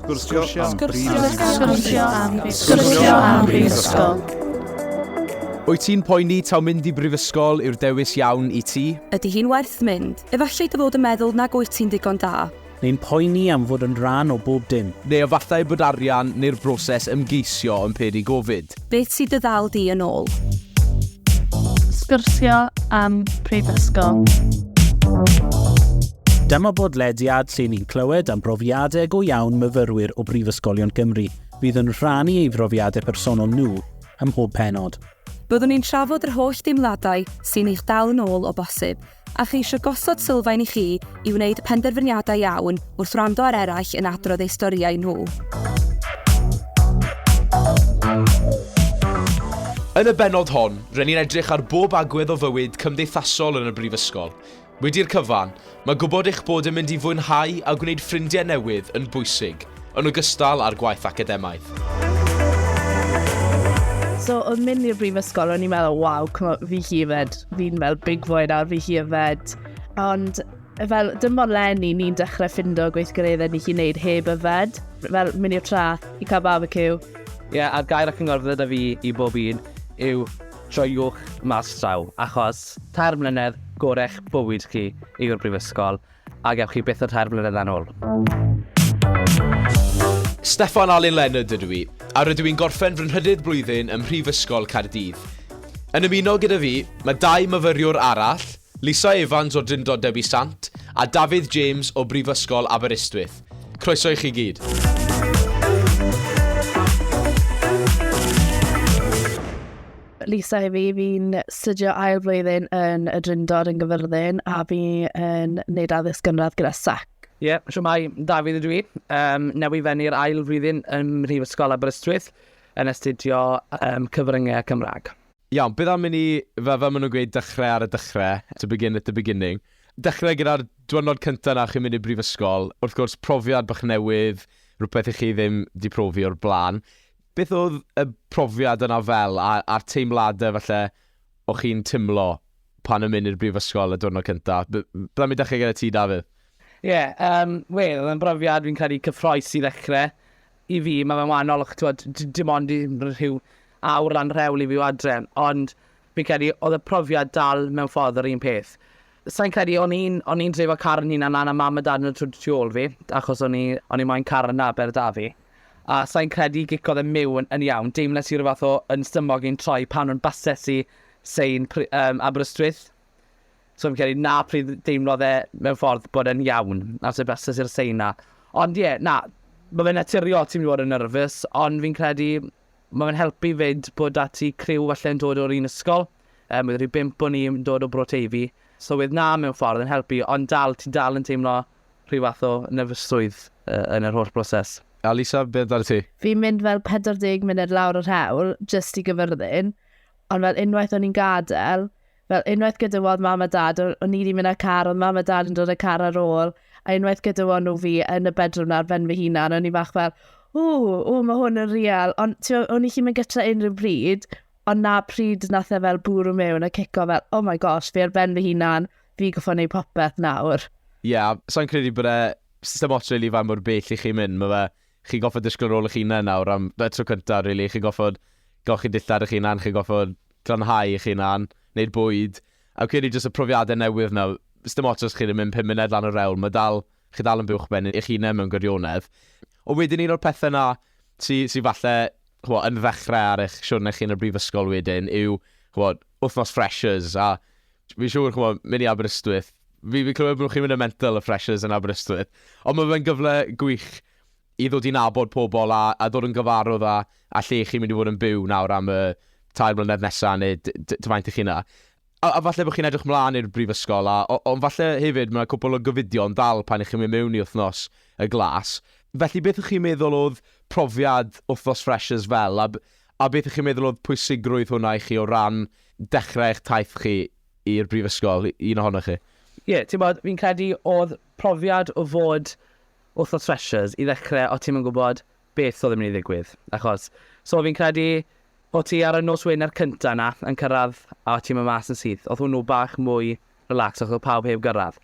Sgwrsio am Sgwrsio am Sgwrsio am Brifysgol. Wyt ti'n poeni taw mynd i brifysgol yw'r dewis iawn i ti? Ydy hi'n werth mynd? Efallai dy fod yn meddwl nag wyt ti'n ddigon da. Neu'n poeni am fod yn rhan o bob dim. Neu efallai bod arian neu'r broses ymgeisio yn peri gofid. Beth sydd dy ddal di yn ôl? Sgyrsio am Prifysgol. Dyma bodlediad lle ni'n clywed am brofiadau go iawn myfyrwyr o Brifysgolion Cymru fydd yn rhannu ei brofiadau personol nhw ym mhob penod. Byddwn ni'n trafod yr holl deimladau sy'n eich dal yn ôl o bosib, A cheisio gosod sylfaen i chi i wneud penderfyniadau iawn wrth wrando ar eraill yn adrodd eu storïau nhw. Yn y bennod hon, rŷn ni'n edrych ar bob agwedd o fywyd cymdeithasol yn y Brifysgol. Wedi'r cyfan, mae gwybod eich bod yn mynd i fwynhau a gwneud ffrindiau newydd yn bwysig. Yn ogystal â'r gwaith academaidd. So oedd mynd i'r brifysgol, o'n i'n meddwl, waw, fi hi yfed, fi'n fel big boy nawr, fi hi yfed. Ond fel, dim ond lenni ni'n dechrau ffindo gweithgareddau ni chi'n neud heb yfed. Fel, mynd i'r trath, i cael barbecue. Ie, yeah, a'r gair ac yn gorfod yda fi i bob un yw troiwch mas traw, achos tair mlynedd gorech bywyd chi yw'r brifysgol. A gewch chi byth y tair blynyddau'n ôl. Steffan Alun Leonard ydw i, a rydw i'n gorffen fy nhrydydd blwyddyn ym Mhrifysgol Caerdydd. Yn ymuno gyda fi, mae dau myfyriwr arall, Lisa Evans o Drindod Dewi Sant a Dafydd James o Brifysgol Aberystwyth. Croeso i chi gyd. Lisa i fi, fi'n studio ail flwyddyn yn y Drindod yn Gyfyrddin a fi yn wneud addysg gynradd gyda SAC. Ie, yeah, so mae Dafydd ydw i, um, newy fenu'r ail flwyddyn yn Mhrifysgol Aberystwyth yn astudio um, cyfryngau Cymraeg. Iawn, beth am i ni, fe, fe maen nhw'n gweud dechrau ar y dechrau, to begin at the beginning. Dechrau gyda'r diwrnod cyntaf na chi'n mynd i brifysgol, wrth gwrs profiad bach newydd, rhywbeth i chi ddim di profi o'r blaen. Beth oedd y profiad yna fel, a, a'r teimladau falle o chi'n timlo pan yn mynd i'r brifysgol y diwrnod cynta? Bydda mi dechrau gyda ti, Dafydd. Ie, yeah, um, wel, oedd yn brofiad fi'n credu cyffroes i ddechrau. I fi, mae fe'n wahanol, ch'twod, dim ond i rhyw awr lan rhewl i fi o adre, ond Fi'n credu oedd y profiad dal mewn ffordd yr un peth. Sai'n credu, o'n i'n, o'n i'n dreifo car yn hunan lan a mam a dad yn y twd tu ôl fi, achos o'n i, o'n i moyn car yn Aber da fi. A sai'n credu gicodd e miwn yn iawn, deimles i ryw fath o yn stumog i'n troi pan o'n bases i Sein pry- um, Aberystwyth. So fi'n credu na pryd deimlodd e mewn ffordd bod e'n iawn, a sef bases i'r Sein na. Ond ie, yeah, na, mae fe'n naturiol ti'n mynd i fod yn nerfus, ond fi'n credu Mae fe'n helpu 'fyd bod 'da ti criw falle yn dod o'r un ysgol, yym ma' 'da fi bump o ni yn dod o Bro Teifi, so wedd 'na mewn ffordd yn helpu ond dal, ti dal yn teimlo rhyw fath o nerfysrwydd yn yr holl broses. A Lisa, be amdanat ti? Fi'n mynd fel 40 munud lawr yr hewl jyst i Gyfyrddin, ond fel unwaith o'n i'n gadel, Fel unwaith gyda weld mam a dad, o'n i wedi mynd â'r car, oedd mam a dad yn dod y car ar ôl, a unwaith gyda weld nhw fi yn y bedroom na ar ben fy hunan, o'n i fach fel, ww, ww, mae hwn yn real. Ond o'n i chi'n mynd gytra unrhyw bryd, ond na pryd nath e fel bwrw mewn a cico fel, oh my gosh, fi ar ben fy hunan, fi goffo neud popeth nawr. Ie, yeah, sa'n credu bod e system ots really fan mor bell i chi mynd, mae fe, chi goffo disgwyl rôl eich hunan nawr am y tro cyntaf, really, chi goffo golchi dillad eich hunan, chi goffo glanhau eich hunan, neud bwyd, a fi'n credu jyst y profiade newydd 'na, sdim ots os chi 'di mynd pum munud lan y rewl, ma' dal, chi dal yn buwchben eich hunen mewn gwirionedd. Ond wedyn un o'r pethe 'na sy sy falle, ch'mo', yn ddechre ar eich siwrne chi yn y brifysgol wedyn yw, ch'mo', wthnos freshers, a fi'n siŵr, ch'mo', myn' i Aberystwyth, fi fi'n clywed bo' chi'n myn' yn mental y freshers yn Aberystwyth, ond ma' fe'n gyfle gwych i ddod i nabod pobl a a ddod yn gyfarwdd a a lle chi'n mynd i fod yn byw nawr am y tair mlynedd nesa neu d- d- faint y'ch chi'n yna. A a falle bo' chi'n edrych mlan i'r brifysgol a o- ond falle hefyd ma' 'na cwpwl o gofidion dal pan 'ych chi'n mynd mewn i wthnos y glas. Felly beth 'ych chi'n meddwl o'dd profiad wthnos freshers fel a b- a beth 'ych chi'n meddwl o'dd pwysigrwydd hwnna i chi o ran dechre eich taith chi i'r brifysgol, un ohonoch chi? Ie, t'mod, fi'n credu o'dd profiad o fod Wrth y Threshers, i ddechrau, o ti'm yn gwybod beth oedd yn mynd i ddigwydd, achos, so fi'n credu, o ti ar y nos Wener cyntaf yna, yn cyrraedd, a o ti'n mynd mas yn syth, oedd hwnnw bach mwy relaxed, achos oedd pawb heb gyrraedd.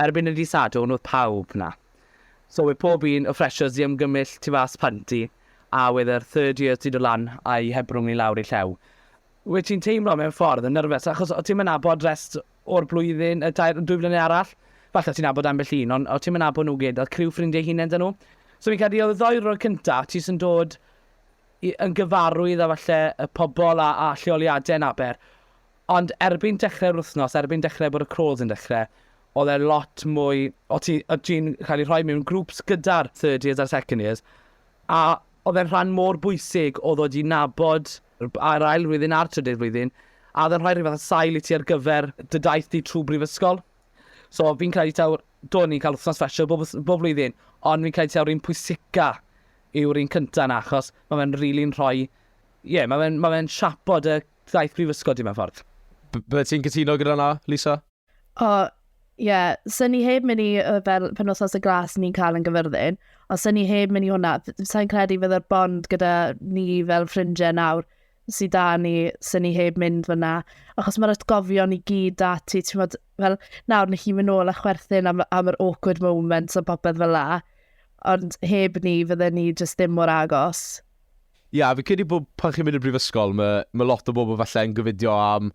Erbyn y dydd Sadwrn, oedd pawb yna. So wedd pob un, y Freshers di ymgymell tu fas panti, a wedd yr third years di dod lan, a'u hebrwng i lawr i llew. Wyt ti'n teimlo mewn ffordd yn nyrfys achos o't ti'm yn abod rest o'r blwyddyn, y tair, dwy flynedd arall? Falle o't ti'n abod ambell un, ond o't ti'm yn abod nhw gyd, oedd criw ffrindiau hunain 'da nhw. So fi'n credu oedd y ddoi rôl cynta, ti jyst yn dod i, yn gyfarwydd â falle y pobl a, a lleoliadau yn Aber. Ond erbyn dechrau'r wythnos, erbyn dechrau bod y crawls yn dechrau, oedd e lot mwy, o ti, o ti'n cael ei rhoi mewn grwps gyda'r third years a'r second years, A oedd e'n rhan mor bwysig o ddod i nabod yr ail flwyddyn a'r trydydd flwyddyn, a oedd e'n rhoi rhyw fath o sail i ti ar gyfer dy daith di trwy brifysgol? So fi'n credu taw, do, ni'n cael wythnos special bob, bob flwyddyn, ond fi'n credu taw'r un pwysica yw'r un cyntaf yna, achos mae fe'n rili'n rhoi, ie, yeah, mae fe'n ma fe siapo dy daith brifysgol di mewn ffordd. Bydde ti'n cytuno gyda na, Lisa? O, ie, sy'n ni heb mynd i, fel penwthos y glas ni'n cael yn gyfyrddin, ond sy'n ni heb mynd i hwnna, sy'n credu fydde'r bond gyda ni fel ffrindiau nawr sydd da ni, sy'n ni heb mynd fyna. Achos mae'r atgofion i gyd da ti, ti'n fod, fel nawr ni chi mynd ôl a chwerthin am, am yr awkward moments a popeth fel la, ond heb ni fydde ni jyst ddim mor agos. Ia, fi'n credu bod pan chi'n mynd i'r brifysgol, mae, mae lot o bobl falle yn gofidio am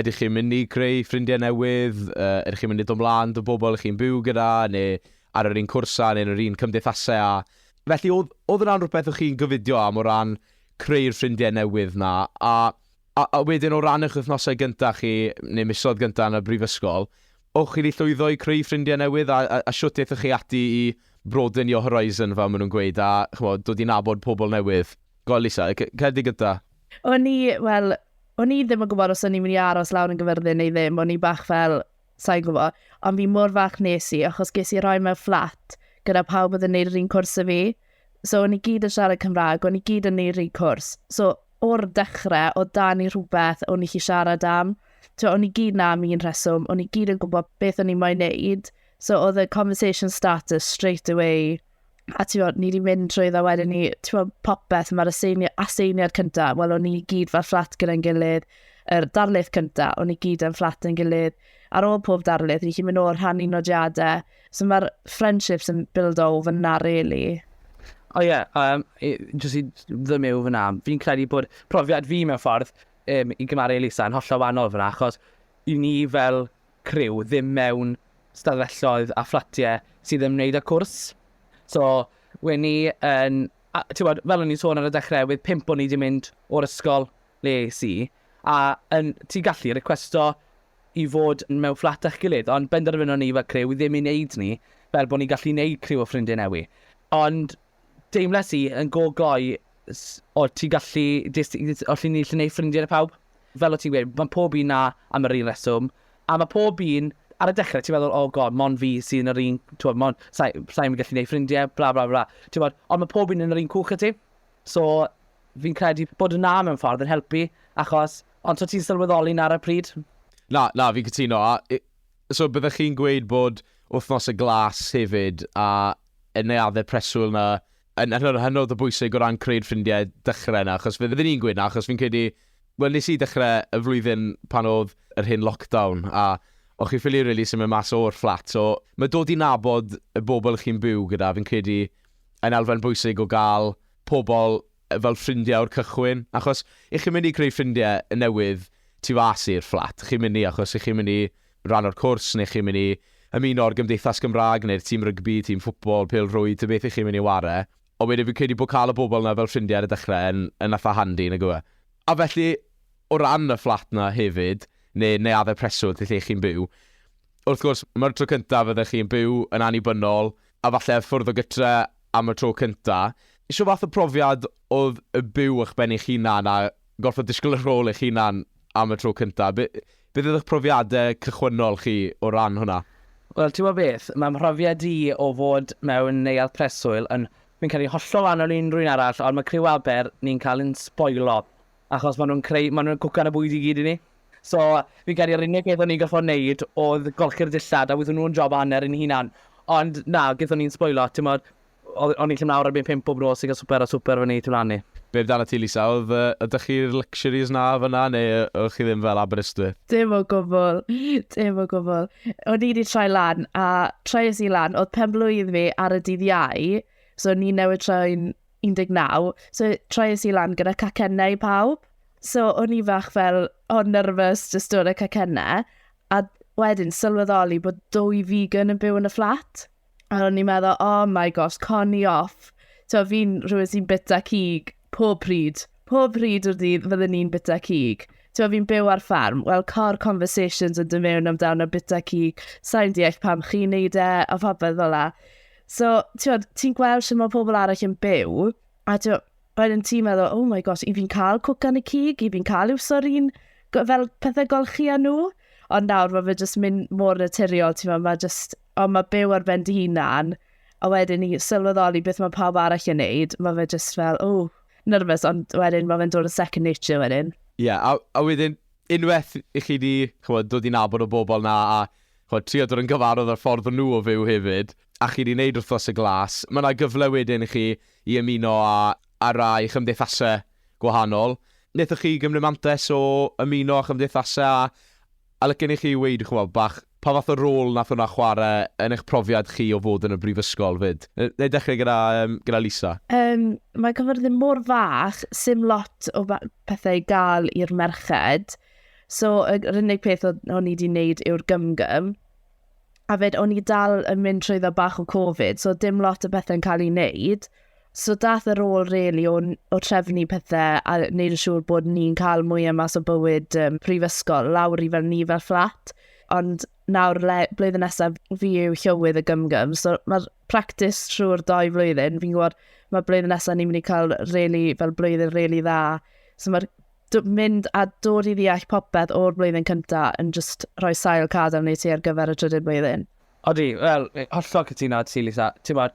ydych chi'n mynd i creu ffrindiau newydd, uh, ydych chi'n mynd i dod mlaen dy bobl chi'n byw gyda, neu ar yr un cwrsau, neu yn yr un cymdeithasau a... Felly, oedd, oedd yna'n rhywbeth o'ch chi'n gofidio am o ran creu'r ffrindiau newydd na, a A wedyn o ran eich wythnosau gyntaf chi, neu misoedd gyntaf yn y brifysgol, o'ch chi wedi llwyddo i creu ffrindiau newydd a a a shwt aethoch chi ati i broaden your horizon fel maen nhw'n gweud a ch'mod dod i nabod pobl newydd? Go on Lisa, y c- cerdyn gynta. O'n i, wel, o'n i ddim yn gwybod os o'n i'n mynd i aros lawr yn Gyfyrddin neu ddim, o'n i bach fel, Sa'n gwybod. Ond fi mor falch nes i, achos ges i roi mewn fflat gyda pawb oedd yn neud yr un cwrs y fi. So, o'n i gyd yn siarad Cymraeg, o'n i gyd yn neud yr un cwrs. So, o'r dechrau, o dan i rhywbeth o'n i chi siarad am. So, o'n i gyd na am un rheswm, o'n i gyd yn gwybod beth o'n i moyn neud. So, oedd y conversation starters straight away a ti'n bod, ni wedi mynd trwy dda wedyn ni, ti'n bod, popeth, mae'r aseini, aseiniad cyntaf, wel, o'n ni gyd fel fflat gyda'n gilydd, yr er darlith cyntaf, o'n ni gyd yn fflat yn gilydd, ar ôl pob darlith, ni chi'n mynd o'r rhan i nodiadau, so mae'r friendships yn build o fyna, really. O ie, yeah, um, jyst i ddymu o fyna, fi'n credu bod profiad fi mewn ffordd um, i gymaru Elisa yn hollol wahanol fyna, achos i ni fel criw ddim mewn stafelloedd a fflatiau sydd ymwneud â cwrs. So, we ni yn, a, bod, fel o'n i'n sôn ar y dechrau, wedd pimp o'n i wedi mynd o'r ysgol le es i, a yn, ti gallu requesto i fod mewn fflat â'ch gilydd, ond benderfynon ni fel criw ddim i wneud ni, fel bod ni'n gallu wneud criw o ffrindiau newi. Ond Deimles i yn go gloi s- o ti'n gallu jyst i jyst o ti'n gallu neud ffrindie 'da pawb. Fel o' ti'n gweud ma' pob un 'na am yr un reswm a ma' pob un ar y dechre ti'n meddwl oh God mond fi sy yn yr un t'mod mond sai sai yn gallu neud ffrindie blah blah blah t'mod ond ma' pob un yn yr un cwch â ti. So fi'n credu bod y 'na mewn ffordd yn helpu achos ond so ti'n sylweddoli 'na ar y pryd. Na na fi'n cytuno a i- So byddech chi'n gweud bod Wythnos y Glas hefyd a y neuaddau preswyl 'na yn hynod hynod o bwysig o ran creu'r ffrindiau dechrau 'na achos fydden ni'n gweud 'na achos fi'n credu wel nes i dechrau y flwyddyn pan oedd yr hen lockdown a o'ch chi'n ffili rili symud mas o'r fflat so mae dod i nabod y bobl chi'n byw gyda fi'n credu yn elfen bwysig o gael pobl fel ffrindiau o'r cychwyn, achos y'ch chi'n mynd i creu ffrindiau newydd tu fas i'r fflat, chi'n mynd i achos y'ch chi'n mynd i ran o'r cwrs, neu chi'n mynd i ymuno â'r gymdeithas Gymraeg, neu'r tîm rygbi, tîm ffwtbol, pêl-rwyd, ta beth y'ch chi'n mynd i ware, ond wedyn fi'n credu bod cael y bobl 'na fel ffrindiau ar y dechrau yn yn eitha' handi, nag yw e? A felly, o ran y fflat 'na hefyd, neu neuaddau preswyl lle y'ch chi'n byw, wrth gwrs, mae'r tro cyntaf fyddech chi'n byw yn annibynnol, a falle ffwrdd o gytre, am y tro cynta', shw fath o profiad o'dd y byw ych ben eich hunan a gorffod disgwl y rhôl eich hunan am y tro cynta'? Be- beth oedd ych profiade cychwynnol chi o ran hwnna? Wel, t'mod beth, ma' mhrofiad i o fod mewn neuadd preswyl yn... Fi'n credu hollol wahanol i unrhyw un arall, ond ma' criw Aber ni'n cael ein sboilo achos maen nhw'n creu, maen nhw'n cwcan y bwyd i gyd i ni. So, fi'n credu yr unig beth o'n i'n gorfod wneud oedd golchi'r dillad, a wnaethon nhw'n job o hanner ein hunan. Ond na, gaethon ni'n sboilo, timod, o'n ni'n gallu mynd lawr erbyn pump bob nos i gael swper, a swper fyny tu lan i. Be amdana ti Lisa, oedd, ydych chi'r luxuries 'na fan'na neu oedd chi ddim fel Aberystwyth? Dim o gwbl, dim o gwbl. O'n i 'di troi lan, a troies i lan, oedd pen-blwydd fi ar y dydd Iau, so o'n i newydd troi'n 19. So, troies i lan gyda cacennau i pawb. So, o'n i fach fel, o, oh, nervous, just dod y cacennau. A wedyn, sylweddoli bod dwy vegan yn byw yn y fflat. A o'n i'n meddwl, oh my gosh, coni off. So, fi'n rhywun sy'n bita cig pob pryd. Pob pryd o'r dydd fydden ni'n bita cig. So, fi'n byw ar ffarm. Wel, cor conversations yn dod mewn amdano bita cig. Sa'n deall pam chi'n neud e, a phobeth fel la. So, ti'n ti gweld sy'n mae pobl arall yn byw, a ti'n wedyn ti'n meddwl, oh my gosh, i fi'n cael cwcan y cig, i fi'n cael i'w sorin fel pethau golchi â nhw. Ond nawr mae fe jyst mynd mor naturiol, ti'n meddwl, mae jyst, ond mae byw ar ben dy hunan, a wedyn i sylweddoli beth mae pawb arall yn neud, mae fe jyst fel, o, oh, nervous, ond wedyn mae fe'n dod yn second nature wedyn. Ie, yeah, a, a wedyn, unwaith i chi di chymod, dod i nabod o bobl na a chimod, trio dod yn gyfarwydd â'r ffordd fy nhw o fyw hefyd, a chi 'di wneud Wythnos y Glas, mae 'na gyfle wedyn i chi i ymuno â â rai chymdeithasau gwahanol. Wnaethoch chi gymryd mantais o ymuno â chymdeithasau a a licen i chi weud, chimod, bach pa fath o rôl wnaeth hwnna chwarae yn eich profiad chi o fod yn y brifysgol 'fyd? Yy, wna i dechrau gyda yym gyda Lisa. Yym, mae cyfyrddin mor fach, 'sdim lot o ba- pethau i gael i'r merched. So, yr unig peth o'n i wedi wneud yw'r gymgym. A fed, o'n i dal yn mynd trwy dda bach o Covid, so dim lot o bethau'n cael ei wneud. So dath yr ôl really o, o trefnu pethau a wneud yn siŵr bod ni'n cael mwy o mas o bywyd um, prifysgol lawr i fel ni fel fflat. Ond nawr le, blwyddyn nesaf fi yw llywydd y gymgym. So mae'r practis trwy'r doi flwyddyn. Fi'n gwybod mae blwyddyn nesaf ni'n mynd i cael really, fel blwyddyn really dda. So mae'r mynd a dod i ddeall popeth o'r blwyddyn cyntaf yn just rhoi sail cadam neu ti ar gyfer y trydydd blwyddyn. Odi, wel, hollol cytuno at ti, Lisa. Ti'n bod,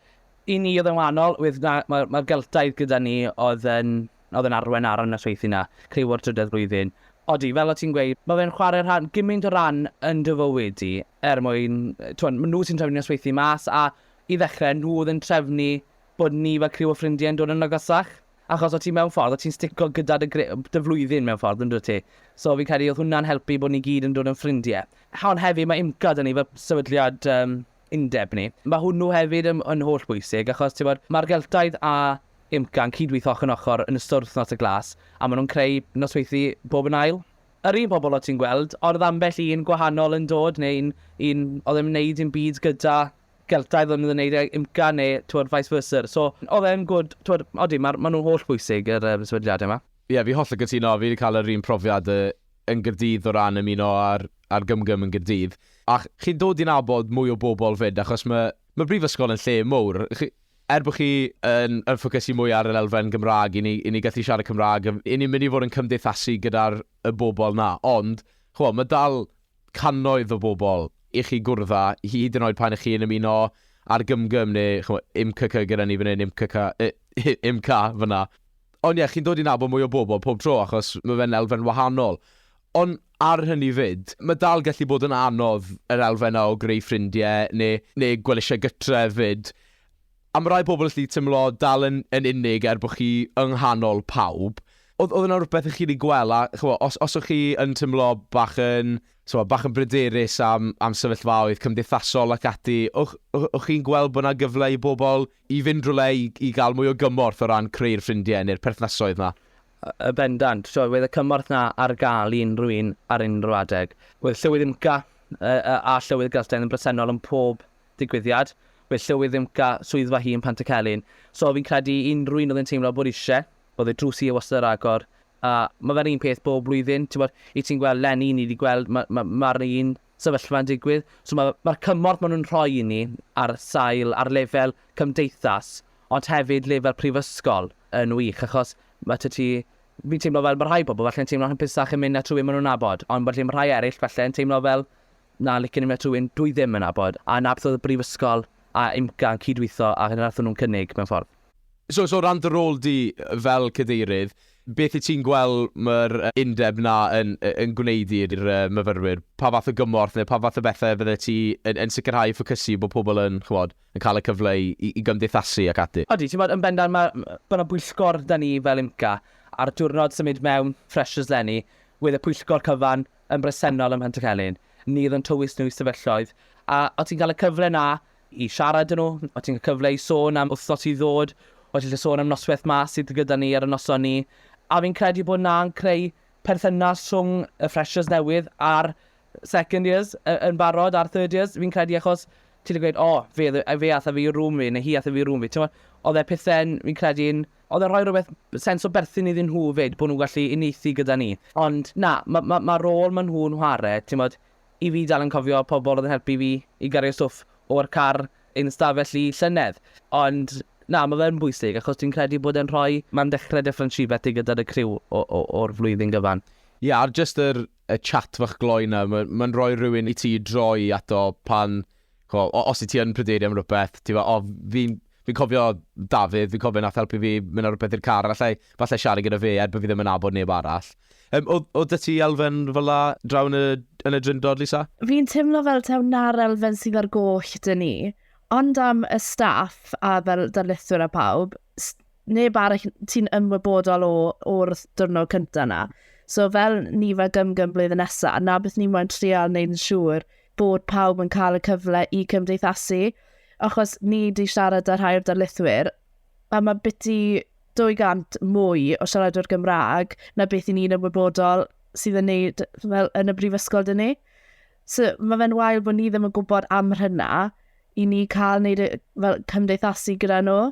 i ni oedd yn wahanol, mae'r ma, ma geltaidd gyda ni oedd yn, oedd yn arwen ar y nosweithio na, criw o'r trydydd flwyddyn. Odi, fel o ti'n gweud, mae fe'n chwarae rhan, gymaint o ran yn dy fywyd i, er mwyn, ti'n maen nhw sy'n trefnu nosweithi mas, a i ddechrau, nhw oedd yn trefnu bod ni fel criw o ffrindiau'n dod yn agosach. Achos o ti mewn ffordd, o ti'n stico gyda dy gre- dy flwyddyn mewn ffordd, yndwt ti? So fi'n credu oedd hwnna'n helpu bod ni gyd yn dod yn ffrindie. Ond hefyd mae IMCA 'da ni fel sefydliad yym undeb ni. Ma' hwnnw hefyd yn yn holl bwysig achos t'mod ma'r Geltaidd a IMCA yn cyd-weitho ochor yn ochor yn ystod Wythnos y Glas a ma' nhw'n creu nosweithi bob yn ail. Yr un pobl o' ti'n gweld, ond oedd ambell un gwahanol yn dod neu'n un oedd ddim yn wneud dim byd gyda Celtaidd o'n nhw ddim yn wneud e i'm ca neu t'mod vice versa. So oedd e'n gwd t'mod odi ma' ma' nhw'n holl bwysig yr yym sefydliade yma. Ie fi hollol cytuno, fi 'di cael yr un profiad yy yn Gaerdydd o ran ymuno â'r â'r gymgym yn Gaerdydd a chi'n dod i nabod mwy o bobl 'fyd achos ma' ma' brifysgol yn lle mowr chi er bo' chi yn yn ffocysu mwy ar yr elfen Gymrâg i ni i ni gallu siarad Cymrâg yym i ni'n mynd i fod yn cymdeithasu gyda'r y bobl 'na ond ch'mo' ma' dal cannoedd o bobl i chi gwrdd â, hyd yn oed pan y'ch chi'n ymuno â'r gymgym neu ch'mo' imkk gyda ni fan hyn, imkk, imk fan'na. Ond ie, chi'n dod i nabod mwy o bobl pob tro achos ma' fe'n elfen wahanol. Ond ar hynny 'fyd, ma' dal gallu bod yn anodd yr elfen 'na o greu ffrindie neu neu gweld y sioe gytre 'fyd. Am rai pobl allu teimlo dal yn yn unig er bod chi yng nghanol pawb. Oedd oedd yna rhywbeth i chi wedi gweld a ch'mo' os os o'ch chi yn teimlo bach yn t'mo' bach yn bryderus am am sefyllfaoedd cymdeithasol ac ati, o'ch o- o'ch chi'n gweld bod 'na gyfle i bobl i fynd rywle i i gael mwy o gymorth o ran creu'r ffrindie neu'r perthnasoedd 'na? Y- yn bendant. T'mo' wedd y cymorth 'na ar ga'l i unrhyw un ar unrhyw adeg. Wedd Llywydd UMCA y- y- a Llywydd Geltaidd yn bresennol yn pob digwyddiad, fe llywyd ddim ca swyddfa hi yn Pantycelyn, so fi'n credu i unrhyw un oedd yn teimlo bod isie, oedd y drws hi e wastad ar agor, a mae fe'r un peth bob blwyddyn, ti'n bod, i ti'n gweld Lenny, ni wedi gweld, mae'r ma, ma un sefyllfa'n digwydd, so mae'r ma, ma cymorth maen nhw'n rhoi i ni ar sail, ar lefel cymdeithas, ond hefyd lefel prifysgol yn wych, achos mae ty ti fi'n teimlo fel mae rhai pobl falle'n teimlo'n hapusach yn mynd na trwy maen nhw'n nabod, ond felly mae rhai eraill falle'n teimlo fel Na, licen i met rhywun dwi ddim yn nabod, a na beth oedd y brifysgol a IMCA yn cyd-weitho a hyn nathon nhw'n cynnig, mewn ffordd. So, so o ran dy rôl di fel cadeirydd, beth wyt ti'n gweld mae'r undeb 'na yn yn gwneud i'r myfyrwyr? Pa fath o gymorth neu pa fath o bethau fyddet ti yn yn sicrhau ffocysu bod pobl yn, chimod, yn cael y cyfle i i gymdeithasu ac ati? Odi, timod, yn bendant ma' ma' 'na bwyllgor 'da ni fel IMCA, a'r diwrnod symud mewn freshers 'lenni, wedd y pwyllgor cyfan yn bresennol ym Mhentycelyn, nid yn tywys nhw i sefyllfaoedd, a o't ti'n cael y cyfle 'na i siarad â nhw, o't ti'n cael cyfle i sôn am wythnos i ddod, o't ti'n gallu sôn am noswaith 'ma sydd gyda ni ar y noson 'ny, a fi'n credu bod 'na'n creu perthynas rhwng y freshers newydd a'r second years yn barod, a'r third years, fi'n credu achos ti'n gallu gweud, o, fe, fe ath â fi i room fi, neu hi ath â fi i room fi, t'mod, oedd e pethe'n, fi'n credu'n Oedd e'n rhoi rhywbeth, sens o berthyn iddyn nhw 'fyd, bod nhw'n gallu uniaethu gyda ni. Ond na, ma' ma' ma' rôl ma' nhw'n whare, timod, i fi dal yn cofio pobl oedd yn helpu fi i gario stwff o'r car i'n stafell i llynedd. Ond na, ma' fe'n bwysig, achos dwi'n credu bod e'n rhoi, ma'n dechrau Dyffryn Shibeth i gyda'r y criw o o o'r flwyddyn gyfan. Ie, a'r jyst yr y chat fach gloi 'na, ma' ma'n rhoi rhywun i ti i droi ato pan ch'mo', o- os wyt ti yn pryderu am rywbeth, ti'n gwybod, o, fi'n fi'n cofio Dafydd, fi'n cofio nath helpu fi mynd ar rywbeth i'r car, allai, falle siarad gyda fe, er bod fi ddim yn nabod neb arall. Um, oedd, oedd dy ti elfen fel la draw yn y, yn y drindod, Lisa? Fi'n teimlo fel taw na'r elfen sydd ar goll dyn ni, ond am y staff a fel darlithwyr a pawb, neb arall ti'n ymwybodol o o'r diwrnod cyntaf yna. So fel ni fel gymgym blwyddyn nesaf, na beth ni'n moyn trial neu'n siŵr bod pawb yn cael y cyfle i cymdeithasu, achos ni di siarad â rhai o'r darlithwyr, a mae biti 200 mwy o siaradwyr Gymraeg na beth i ni'n ymwybodol sydd yn neud fel, yn y brifysgol dyn ni. So, mae fe'n wael bod ni ddim yn gwybod am hynna i ni cael neud y, fel, cymdeithasu gyda nhw.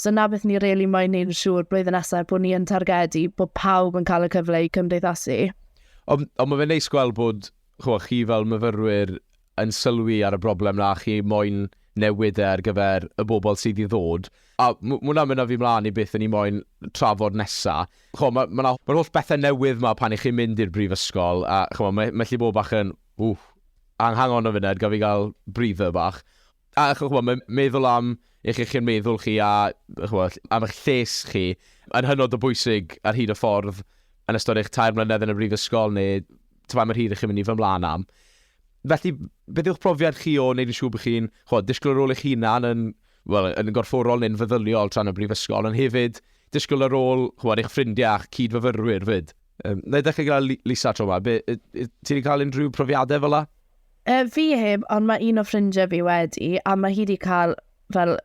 So na beth ni reili really moyn neud yn siŵr blwyddyn nesaf bod ni yn targedu bod pawb yn cael y cyfle i cymdeithasu. Ond on mae fe'n neis gweld bod chimod, chi fel myfyrwyr yn sylwi ar y broblem na chi moyn newid e ar gyfer y bobl sydd i ddod. A m- ma' hwnna'n mynd â fi mlaen i beth o'n i moyn trafod nesa. Chimod, ma' ma' 'na ma'r holl bethe newydd 'ma pan 'ych chi'n mynd i'r brifysgol a chimod, mae mae gallu bod bach yn, ww, hang hang on a funud, gaf fi gael breather bach? A ch'mod mae'n meddwl am eich iechyd meddwl chi a ch'mod am eich lles chi yn hynod o bwysig ar hyd y ffordd yn ystod eich tair mlynedd yn y brifysgol neu ta faint mor hir ych chi'n mynd i fy mlaen am. Felly, beth yw'ch profiad chi o wneud yn siŵr bod chi'n ch'mod disgwyl ar ôl eich hunan yn wel, yn gorfforol neu'n feddyliol tra'n y brifysgol, ond hefyd disgwyl ar ôl ch'mod eich ffrindiau a'ch cyd-fyfyrwyr 'fyd? Yym, na i ddechrau gyda Lisa tro 'ma. Be- yy yy ti 'di cael unrhyw profiadau fel 'na? E, fi heb, ond mae un o ffrindiau fi wedi, a mae hi wedi cael fel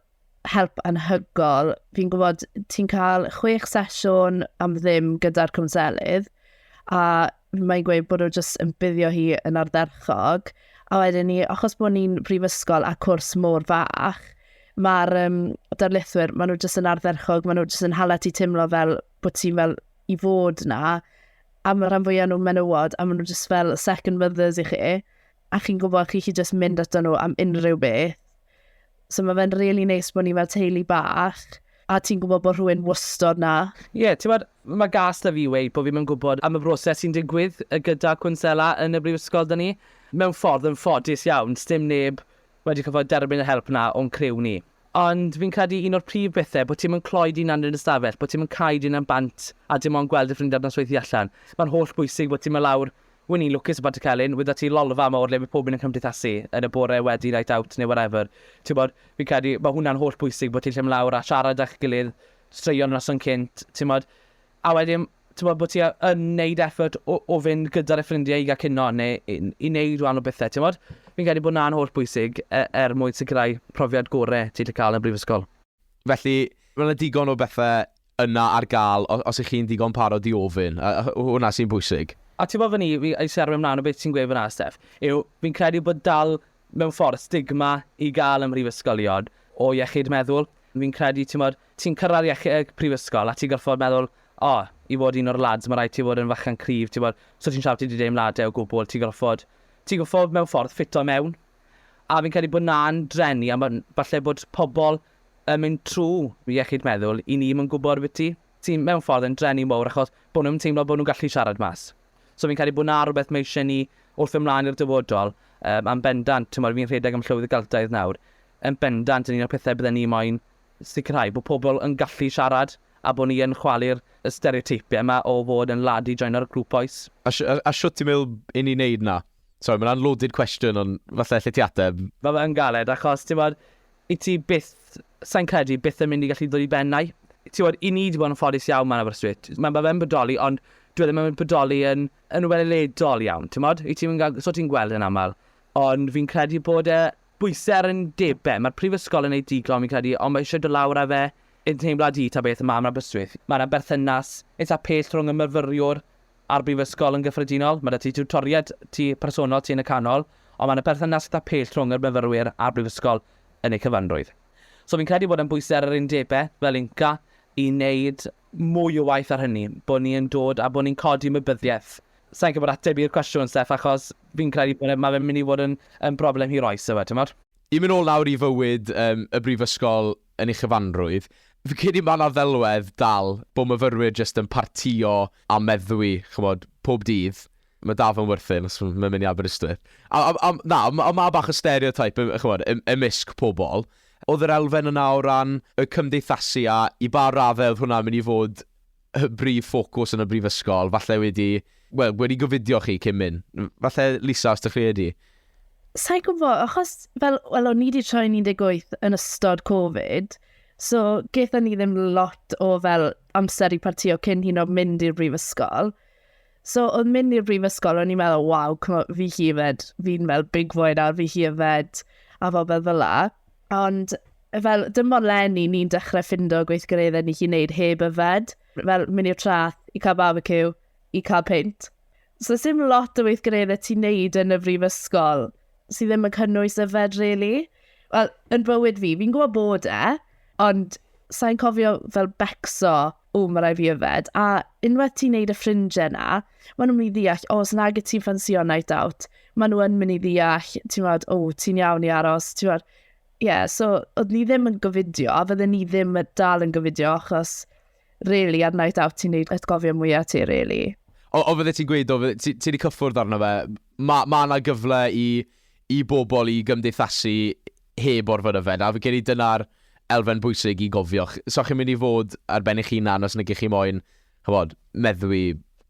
help anhygol. Fi'n gwybod ti'n cael chwech sesiwn am ddim gyda'r cwnselydd, a mae'n gweud bod nhw jyst yn buddio hi yn ardderchog. A wedyn ni, achos bod ni'n brifysgol a cwrs mor fach, mae'r um, darlithwyr, maen nhw jyst yn ardderchog, maen nhw jyst yn hala ti teimlo fel bod ti'n fel i fod na, a mae rhan fwyaf nhw'n menywod, a maen nhw just fel second mothers i chi, a chi'n gwybod chi chi just mynd ato nhw am unrhyw beth. So mae fe'n really neis bod ni fel teulu bach, a ti'n gwybod bod rhywun wastod na. Ie, yeah, ti'n bod, mae gas da fi wei bod fi'n mynd gwybod am y broses sy'n digwydd gyda cwnsela yn y brifysgol da ni. Mewn ffordd yn ffodus iawn, dim neb wedi cyfod derbyn y help na o'n criw ni. Ond fi'n credu un o'r prif bethe, bo' ti'm yn cloi dy hunan yn yr ystafell, bo' ti'm yn cau dy hunan bant a dim ond gweld dy ffrindiau ar nosweithie allan. Mae'n holl bwysig bo' ti'n mynd lawr, winning lwcus yn Pantycelyn, wydda ti lolfa yma o'r le bydd pob un yn cymdeithasu yn y bore wedi night out neu whatever. Timod, fi'n credu ma' hwnna'n holl bwysig, bo' ti'n gallu mynd lawr a siarad â'ch gilydd, straeon noson cynt, timod. a wedyn t'mod bo' ti yn neud effort o o fynd gyda dy ffrindie i ga'l cinio ne' i i neud rhan o bethe t'mod? Fi'n credu bo' 'na'n holl bwysig e- er mwyn sicirau profiad gore ti 'llu ca'l yn brifysgol. Felly, ma' 'na digon o bethe yna ar ga'l o- os 'ych chi'n ddigon parod i ofyn, a a hwnna sy'n bwysig. A t'mod fy' ni, fi isie arwain mlan o beth ti'n gweud fynna Steff, yw fi'n credu bod dal mewn ffordd, stigma i gael ym mhrifysgolion o iechyd meddwl. Fi'n credu, timod, ti'n cyrraedd iech- yy prifysgol a ti'n gorfod meddwl, 'O, i fod un o'r lads, mae rhaid ti fod yn fychan cryf, timod, so ti'n siarad, ti 'di deimladau o gwbl, ti'n gorfod, ti'n gorfod mewn ffordd ffito mewn. A fi'n credu bod 'na'n drueni, a mae'n falle bod pobl yn mynd trwy iechyd meddwl i ni ddim yn gwybod ambiti, sy'n mewn ffordd yn drueni mawr achos bod nhw'n teimlo bod nhw'n gallu siarad mas. So fi'n credu bod 'na rywbeth mae eisiau ni wrth fynd mlaen i'r dyfodol, yym, yn bendant, t'mod, fi'n rhedeg am Llywydd y Geltaidd nawr, yn bendant yn un o'r pethau bydden ni moyn sicrhau, bod pobl yn gallu siarad a bod ni yn chwalu'r y stereoteipiau yma o fod yn lad i joino'r grŵp oes. A, a, a shwt ti'n meddwl i ni wneud 'na? Sori, mae'n loaded cwestiwn, ond falle allet ti ateb. Mae fe yn galed, achos, ti'n bod, Wyt ti byth, sa i'n credu, byth yn mynd i gallu dod i ben 'na. Tibod, i ni 'di bod yn ffodus iawn 'ma yn Aberystwyth. Ma' ma' fe'n bodoli ond dyw e ddim yn bodoli yn yn weledol iawn, timod? Wyt ti'm yn ga'l, so ti'n gweld e'n aml. Ond fi'n credu bod e bwyse ar undebe. Ma'r prifysgol yn neud digon fi'n credu ond ma' isie do' lawr â fe i'n teimlad i ta beth yma yn Aberystwyth. Ma' 'na berthynas itha pell rhwng y myfyriwr A'r Brifysgol yn gyffredinol, mae 'da ti tiwtoriaid ti personol ti yn y canol, ond mae 'na perthynas eitha' pell rhwng yr myfyrwyr a'r Brifysgol yn eu cyfanrwydd. So fi'n credu bod e'n bwysau ar yr undebau, fel UNCA, i wneud mwy o waith ar hynny, bod ni yn dod a bod ni'n codi ymwybyddiaeth. Sa i'n gwybod ateb i'r cwestiwn, Steff, achos fi'n credu bod e, mae fe'n mynd i fod yn yn broblem hir oes, ife, timod? Yn mynd nôl nawr i fywyd yym y Brifysgol, yn ei chyfanrwydd. Fi'n credu mae 'na ddelwedd dal bod myfyrwyr jyst yn partïo a meddwi, chimod, pob dydd. Mae dal fy ngwrthyn os mae'n mynd i Aberystwyth. A, a, a, na, ond ma- ma' bach o stereotype, yy, chimod, ym- ymysg pobl. Oedd yr elfen yna o ran y cymdeithasu a i ba raddau oedd hwnna'n mynd i fod y brif ffocws yn y brifysgol, falle wedi, wel, wedi gofidio chi cyn mynd. Falle, Lisa, os ydych chi wedi? Sa'i gwybod, achos fel, wel, o'n i wedi troi 18 yn ystod Covid, so gaethon ni ddim lot o fel amser i partio cyn hyn o mynd i'r brifysgol. So oedd mynd i'r brifysgol, o'n i'n meddwl, waw, fi hi yfed, fi'n fel big boy nawr, fi hi yfed, a fel fel fel la. Ond fel, dim ond lenni ni'n dechrau ffindo gweithgareddau ni chi'n neud heb yfed. Fel mynd i'r trath, i cael barbecue, i cael peint. So dim lot o weithgareddau ti'n neud yn y brifysgol sydd ddim yn cynnwys yfed, really. Wel, yn bywyd fi, fi'n gwybod bod e, ond sa'n cofio fel becso o, mae rai fi yfed, a unwaith ti'n neud y ffrindiau na, maen nhw'n mynd i ddeall, o, os nag y ti'n ffansio night out, maen nhw yn mynd i ddeall, ti'n fawr, o, ti'n iawn i aros, ti'n fawr. Ie, yeah, so, oedd ni ddim yn gofidio, a fydden ni ddim dal yn gofidio, achos, really, ar night out ti'n neud atgofio mwyaf ti, really. O, o fydde ti'n gweud, o, ti, ti wedi cyffwrdd arno fe, mae ma yna gyfle i i bobl i gymdeithasu heb orfod yfed, a fi'n credu dyna'r elfen bwysig i gofio. Ch- so chi'n mynd i fod ar ben eich hunan os nagych chi moyn, ch'mod, meddwi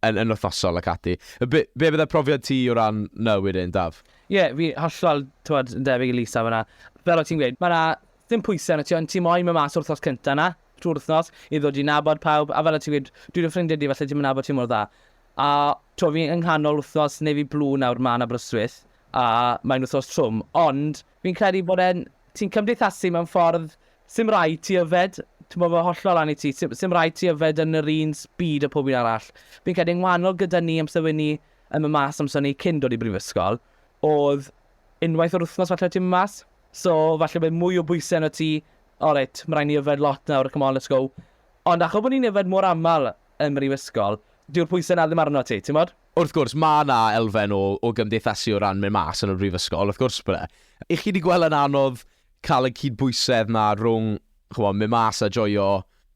yn yn wythnosol ac ati. Yy be' be' bydde profiad ti o ran 'na wedyn, Daf? Ie, fi hollol, t'mod, yn debyg i Lisa fan'na. Fel o' ti'n gweud, ma' 'na ddim pwyse arnot ti, ond ti moyn myn' mas yr wythnos cynta 'na, trwy'r wythnos, i ddod i nabod pawb, a fel o' ti'n gweud, dwi dy ffrindie di, falle ti'm yn nabod ti mor dda. A t'wo' fi yng nghanol wthnos neu fi blu nawr mlan Aberystwyth a mae'n wthnos trwm ond fi'n credu bod e'n, ti'n cymdeithasu mewn ffordd sim raid ti yfed, t'mo' ma' hollol lan i ti, sim sim raid ti yfed yn yr un speed â pob un arall. Fi'n credu yn ngwanol gyda ni amser wi' ni yn myn' mas amser ni cyn dod i brifysgol o'dd unwaith yr wthnos falle o' ti'n myn' mas so falle bydd mwy o bwyse arnot ti, o reit ma' raid ni yfed lot nawr come on let's go. Ond achos bo' ni'n yfed mor amal ym mhrifysgol, dyw'r pwysau 'na ddim arnot ti, timod? Wrth gwrs, mae 'na elfen o o gymdeithasu o ran mynd mas yn y brifysgol, wrth gwrs bod 'na. Y'ch chi 'di gweld yn anodd cael y cydbwysedd 'na rhwng, ch'mo', mynd mas a joio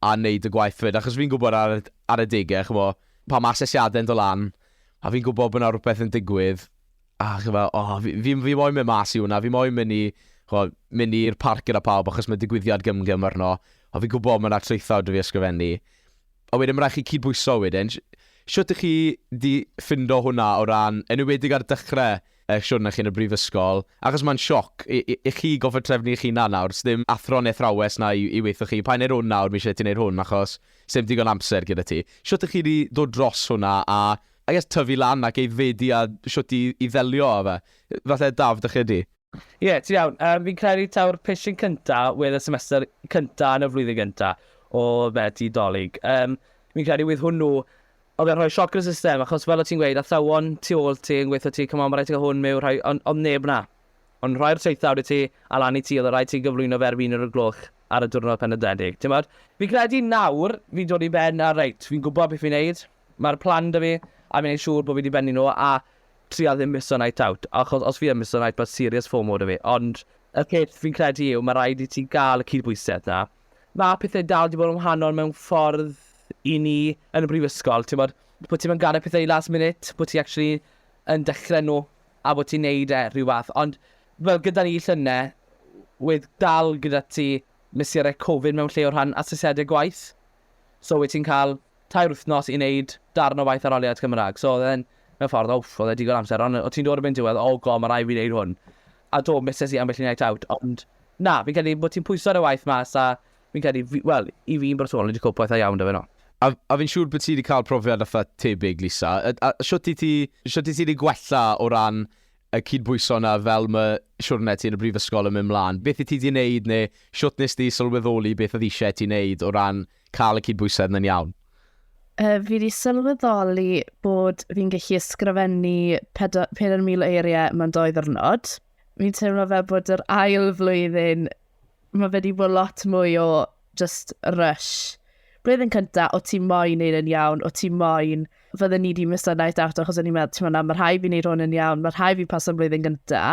a neud y gwaith 'fyd? Achos fi'n gwbod ar y ar adegau, ch'mo', pan ma' asesiadau'n do' lan, a fi'n gwbod bod 'na rwbeth yn digwydd, A chi fel, o, fi, fi, fi moyn mynd mas i hwnna, fi moyn mynd i, chwa, mynd i'r parc gyda pawb achos mae digwyddiad gymgym arno, a fi'n gwybod mae yna traethawd da fi ysgrifennu. A wedyn mae'n rhaid chi cydbwyso wedyn. Siwt ych chi di ffindo hwnna o ran, yn ywedig ar dechrau eich siwrna chi yn y brifysgol, achos mae'n sioc i, i, i chi goffa trefnu eich hunan nawr, ddim athro neu thrawes na i, i weithio chi, pa'n neud hwn nawr, mi eisiau ti wneud hwn achos ddim digon amser gyda ti. Siwt ych chi di dod dros hwnna a I guess tyfu lan ac aeddfedu a shwt i i ddelio a fe. Falle Daf, dych chi ydi? Ie, ti'n iawn. Yym, fi'n credu taw'r pishyn cynta, wedd y semester cynta yn y flwyddyn gynta o fe ti 'Dolig. Yym, fi'n credu wedd hwnnw, oedd e'n rhoi sioc yn y system, achos fel o' ti'n gweud, athrawon tu ôl ti yn gweutho ti, come on, ma' raid ti gael hwn miwn, rhai, ond o'dd neb 'na. O'n nhw'n rhoi'r traethawd i ti, a lan i ti, oedd raid ti gyflwyno fe ar fin yr y gloch ar y diwrnod penodedig, t'mod? Fi'n credu nawr, fi'n dod i ben a reit, fi'n gwbod beth fi'n neud, Mae'r plan 'da fi, a fi'n neud siŵr bod fi 'di bennu nhw, a trial ddim misso night out, achos os fi yn misso night mae serious fomo 'da fi, ond y peth fi'n credu yw mae rhaid i ti gael y cydbwysedd 'na. Mae pethau dal 'di bod yn wahanol mewn ffordd i ni yn y brifysgol, timod, bod ti'm yn gadael pethau i last minute, bod ti actually yn dechrau nhw a bod ti'n neud e rhyw fath, ond fel gyda ni llynedd, wedd dal gyda ti mesurau Covid mewn lle o rhan asesiadau gwaith, so wyt ti'n cael tair wythnos i wneud darn o waith arholiad Cymraeg. So oedd e'n, mewn ffordd, o, oedd e digon amser, ond o ti'n dod erbyn diwedd, o go, mae rai fi wneud hwn. A do, mises i ambell i night out, ond na, fi'n credu bod ti'n pwyso ar y waith mas a fi'n credu, wel, i fi'n bersonol, wedi cwp waith a iawn da fe no. A, a fi'n siŵr bod ti wedi cael profiad atha tebyg, Lisa. A, a siwt i ti, siwt i ti wedi gwella o ran y cydbwyso yna fel mae siwrne ti yn y brifysgol yn mynd mlaen? Beth i ti wedi wneud neu siwt nes ti sylweddoli beth oedd eisiau ti wneud o ran Cael y cydbwysedd na'n iawn. Yy, fi 'di sylweddoli bod fi'n gallu ysgrifennu pedo- pedair mil o eiriau mewn dou ddiwrnod. Fi'n teimlo fel bod yr ail flwyddyn, mae fe 'di bod lot mwy o just rush. Blwyddyn cynta, o ti moyn neud yn iawn, o ti moyn... Fydden ni 'di miso night out achos o'n i'n meddwl, t'mo' na, ma' rhai' fi neud hwn yn iawn, ma' rhai' fi paso'n blwyddyn gynta.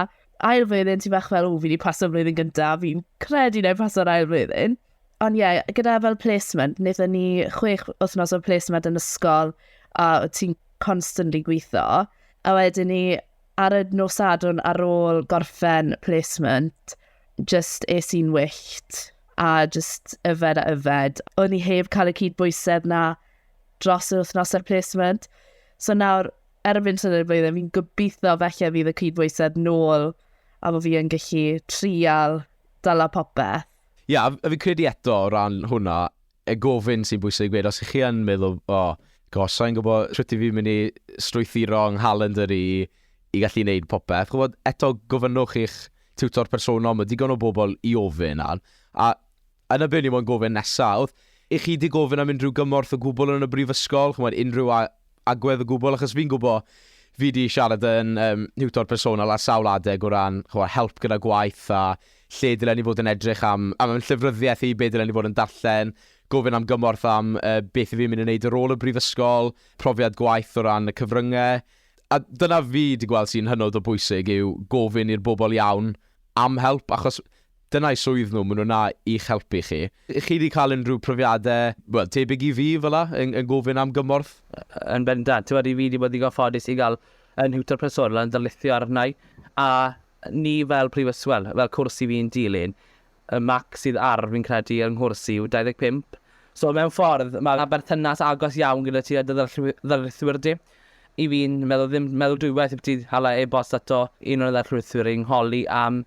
Ail flwyddyn, ti bach fel, ww, fi 'di paso'n flwyddyn gynta, fi'n credu 'nai paso'r ail flwyddyn. Ond ie, yeah, gyda fel placement, wnaethon ni chwech wythnos o placement yn ysgol a ti'n constantly gweithio. A wedyn ni ar y nos adwn ar ôl gorffen placement, just es i'n wyllt a just yfed a yfed. O'n i heb cael y cyd bwysedd na dros yr wythnos ar placement. So nawr, erbyn sy'n y blwyddyn, fi'n gobeithio felly fydd y cyd bwysedd nôl a fo fi yn gallu trial dala popeth. Ie, a fi'n credu eto o ran hwnna, y gofyn sy'n bwysig i gweud, os ych chi yn meddwl, o, gosh, sa i'n gwybod shwt i fi'n mynd i strwythuro yng nghalendr i i gallu gwneud popeth, chibod, eto gofynnwch i'ch tiwtor personol, mae digon o bobl i ofyn ar, a yn y byd ni moyn gofyn nesaf, i chi di gofyn am unrhyw gymorth o gwbl yn y brifysgol, chibod, unrhyw agwedd o gwbl, achos fi'n gwbo, fi 'di siarad yn um, niwtor personol ar sawl adeg o ran chwa, help gyda gwaith a lle dylen ni fod yn edrych am, am, am llyfryddiaeth i, be dylen ni fod yn darllen, gofyn am gymorth am uh, beth i fi'n mynd i wneud ar ôl y brifysgol, profiad gwaith o ran y cyfryngau. A dyna fi wedi gweld sy'n hynod o bwysig yw gofyn i'r bobl iawn am help, achos Dyna eu swydd nhw, maen nhw 'na i'ch helpu chi. Chi wedi cael unrhyw profiadau, wel, tebyg i fi fel 'na, yn gofyn am gymorth? Yn bendant. Tibod, fi wedi bod ddigon ffodus i gael fy nhiwtor personol yn darlithio arna i, a ni fel prifysgol, wel, fel cwrs i fi'n dilyn. Y marc sydd ar, fi'n credu, yng nghwrs i yw 25. So, mewn ffordd, mae 'na berthynas agos iawn gyda ti a dy ddarlithwyr di. I fi'n meddwl, ddim meddwl dwywaith i ti hala e-bost ato un o'n ddarlithwyr i'n holi am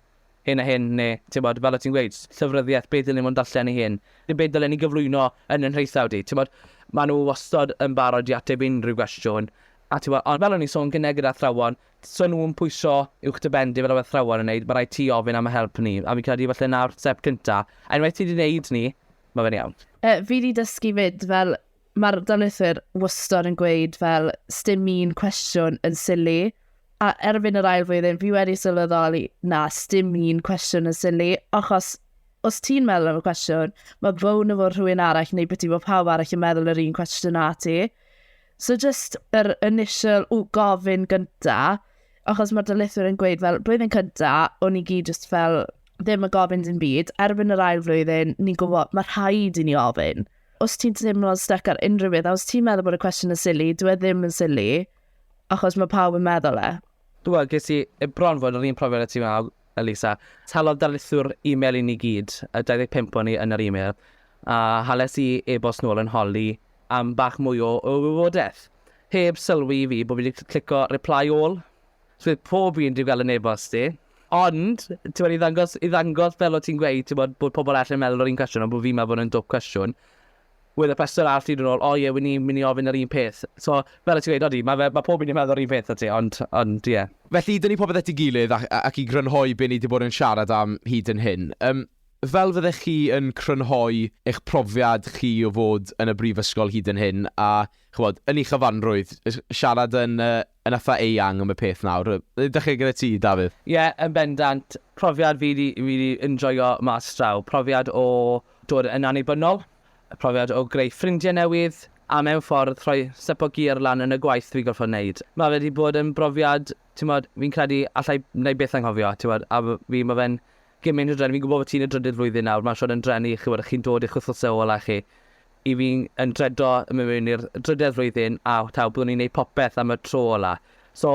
hyn a hyn, neu, tibod, fel o't ti'n gweud, llyfryddiaeth, be dylen ni fod yn darllen ei hun, neu be dylen ni gyflwyno yn ein hisaw di, tibod. Maen nhw wastad yn barod i ateb unrhyw gwestiwn, a tibod, ond fel o'n i'n sôn gyne gyda athrawon, 'sa nhw'n pwyso uwch dy ben di fel oedd athrawon yn wneud, ma' raid ti ofyn am y help ni, a fi'n credu falle 'na'r step cynta, a unwaith ti di wneud ni, ma' fe'n iawn. Fi di dysgu 'fyd, fel, Mae'r darlithwyr wastad yn gweud fel, sdim un cwestiwn yn sili, a erbyn yr ail flwyddyn, fi wedi sylweddoli, na, sdim un cwestiwn yn sili, achos os ti'n meddwl am y cwestiwn, mae bown efo rhywun arall neu beth i fod pawb arall yn meddwl yr un cwestiwn na ti. So just yr initial o gofyn gynta, achos mae'r dylithwyr yn gweud fel blwyddyn cynta, o'n i gyd just fel ddim yn gofyn dim byd, erbyn yr ail flwyddyn, ni'n gwybod mae rhaid i ni ofyn. os ti'n teimlo'n stuck ar unrhyw beth, a os ti'n meddwl bod y cwestiwn yn silly, dwi e ddim yn silly, achos mae pawb yn meddwl e. Wel, ges i bron fod yr un profiad y ti wnaw, Elisa. Talodd darlithwr e-mail i ni gyd, y 25 o'n ni yn yr e-mail, a hales i e-bost nôl yn holi am bach mwy o, o wybodaeth. Heb sylwi i fi bod fi wedi clico reply all. So pob un dwi'n gael yn e-bost i. Ond, t'mod, i ddangos, i ddangos fel o ti'n gweud, t'mod, bod pobl arall yn meddwl yr un cwestiwn, ond bod fi'n meddwl bod yn dwp cwestiwn, wedd y person arall yn ôl, o ie, wyn ni'n mynd i ofyn yr un peth. So, fel o ti'n gweud, odi, mae, fe, mae pob un yn meddwl yr un peth o ti, ond, ond, ie. Yeah. Felly, dyn ni popeth at ei gilydd ac, ac i grynhoi be ni wedi bod yn siarad am hyd yn hyn. Um, fel fyddech chi yn crynhoi eich profiad chi o fod yn y brifysgol hyd yn hyn, a chybod, yn ei chyfanrwydd, siarad yn uh, Yn eitha eang am y peth nawr. Yy, dach chi gyda ti, Dafydd? Ie, yn bendant. Profiad fi 'di, fi 'di enjoio mas draw. Profiad o dod yn annibynnol, profiad o greu ffrindie newydd, a mewn ffordd rhoi step o gear lan yn y gwaith fi gorffod neud. Ma' fe 'di bod yn brofiad, t'mod, fi'n credu allai, 'nai byth anghofio, t'mod, a fi, ma' fe'n Cyn mynd i'r dren, fi'n gwybod fod ti'n y drydydd flwyddyn nawr, mae'n siŵr yn dren i, chi'n gwybod, chi'n dod i'ch wythnosau ola chi. I fi, yn dredo yn mynd mewn i'r drydedd flwyddyn, a taw, byddwn i'n neud popeth am y tro ola. So,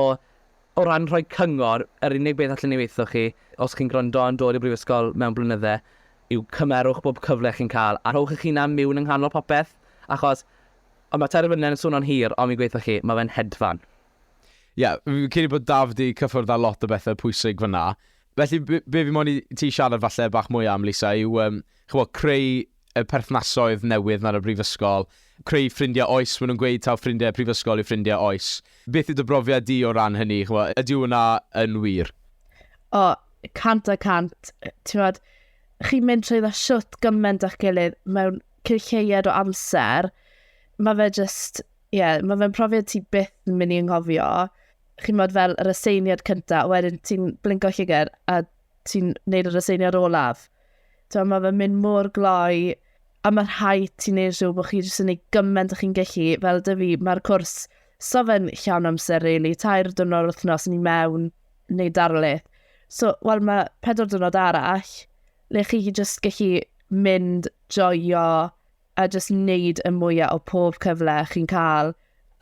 o ran rhoi cyngor, yr unig beth allen i weitho chi, os chi'n gwrando yn dod i'r brifysgol mewn blynydde, yw cymerwch bob cyfle chi'n cael, a rhowch eich hunan miwn yng nghanol popeth, achos, o, mae Terfynlen yn swno'n hir, ond fi'n gweitho chi, mae fe'n hedfan. Ie, fi'n credu bod Daf 'di cyffwrdd â lot o bethe pwysig fan'na. Felly b- be fi moyn i ti siarad falle bach mwy am, Lisa, yw um, chybod, creu y perthnasoedd newydd na'r y brifysgol, creu ffrindiau oes, maen nhw'n gweud taw ffrindiau prifysgol yw ffrindiau oes. Beth yw dy brofiad di o ran hynny? Chybod, ydyw hwnna yn wir? O, cant a cant. Ti'n fawr, chi'n mynd trwy dda siwt gymaint â'ch gilydd mewn cyrcheiad o amser. Mae fe just, ie, yeah, mae fe'n profiad ti byth yn mynd i ynghofio. chi'n modd fel yr aseiniad cyntaf, wedyn ti'n blingo llygr a ti'n neud yr aseiniad olaf. Tewa, mae fe'n mynd mor gloi, a mae rhai ti'n neud siw bod chi jyst yn neud gymaint o chi'n gallu, fel dy fi, mae'r cwrs so fe'n llawn amser, really, tair dwrnod wythnos ni mewn, neu darlith. So, wel, mae pedwar dwrnod arall, le chi jyst gallu mynd joio a jyst wneud y mwyaf o pob cyfle chi'n cael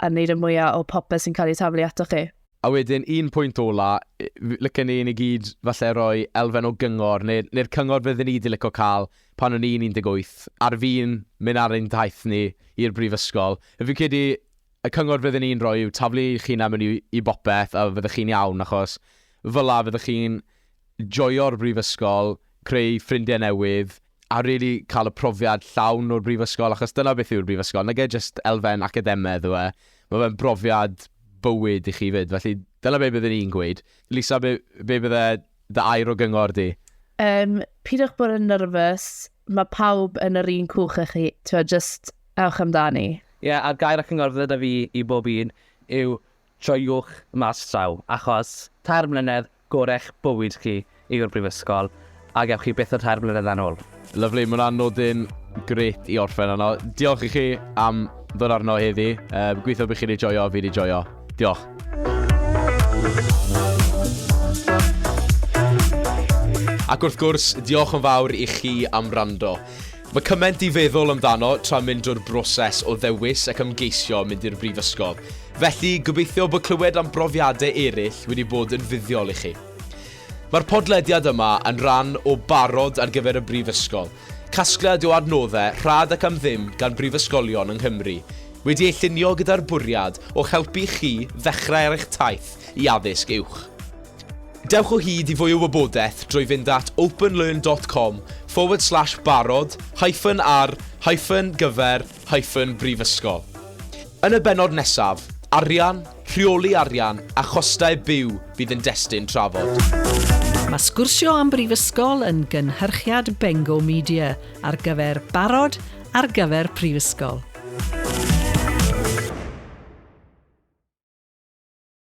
a wneud y mwyaf o popeth sy'n cael ei taflu ato chi. A wedyn, un pwynt ola, lycen ni ni gyd falle roi elfen o gyngor, neu'r neu cyngor fydden ni wedi lyco cael pan o'n i'n 18, ar fi'n mynd ar ein daith ni i'r brifysgol. Fi'n credu y cyngor fydden ni'n rhoi yw taflu eich hunan mewn i, i bopeth a fyddech chi'n iawn, achos fel la fyddech chi'n joio'r brifysgol, creu ffrindiau newydd, a rili cael y profiad llawn o'r brifysgol, achos dyna beth yw'r brifysgol, nage jyst elfen academedd yw e, mae fe'n brofiad bywyd i chi 'fyd, felly dyna be byddwn i'n gweud. Lisa, be, be bydde dy air o gyngor di? Um, pidwch bod yn nyrfys, mae pawb yn yr un cwch â chi, ti'n just ewch amdani. Ie, yeah, a'r gair ac yngor fydda fi i bob un yw Joiwch mas draw, achos tair mlynedd gorech bywyd chi yw'r brifysgol, a gewch chi byth y tair mlynedd na nôl. Lyfli, mae hwnna'n nodyn grêt i orffen arno. Diolch i chi am ddod arno heddi. Um, gweithio bych chi wedi joio, fi wedi joio. Diolch. Ac wrth gwrs, diolch yn fawr i chi am rando. Mae cymaint i feddwl amdano tra mynd drwy'r broses o ddewis ac ymgeisio mynd i'r brifysgol, felly gobeithio bod clywed am brofiadau eraill wedi bod yn fuddiol i chi. Mae'r podlediad yma yn rhan o Barod ar gyfer y Brifysgol, casgliad o adnoddau rhad ac am ddim gan brifysgolion yng Nghymru, wedi ei llunio gyda'r bwriad o helpu chi ddechrau ar eich taith i addysg uwch. Dewch o hyd i fwy o wybodaeth drwy fynd at openlearn dot com forward slash barod hyphen ar hyphen gyfer hyphen brifysgol. Yn y bennod nesaf, arian, rheoli arian a chostau byw fydd yn destun trafod. Mae Sgwrsio am Brifysgol yn gynhyrchiad Bengo Media ar gyfer barod ar gyfer prifysgol.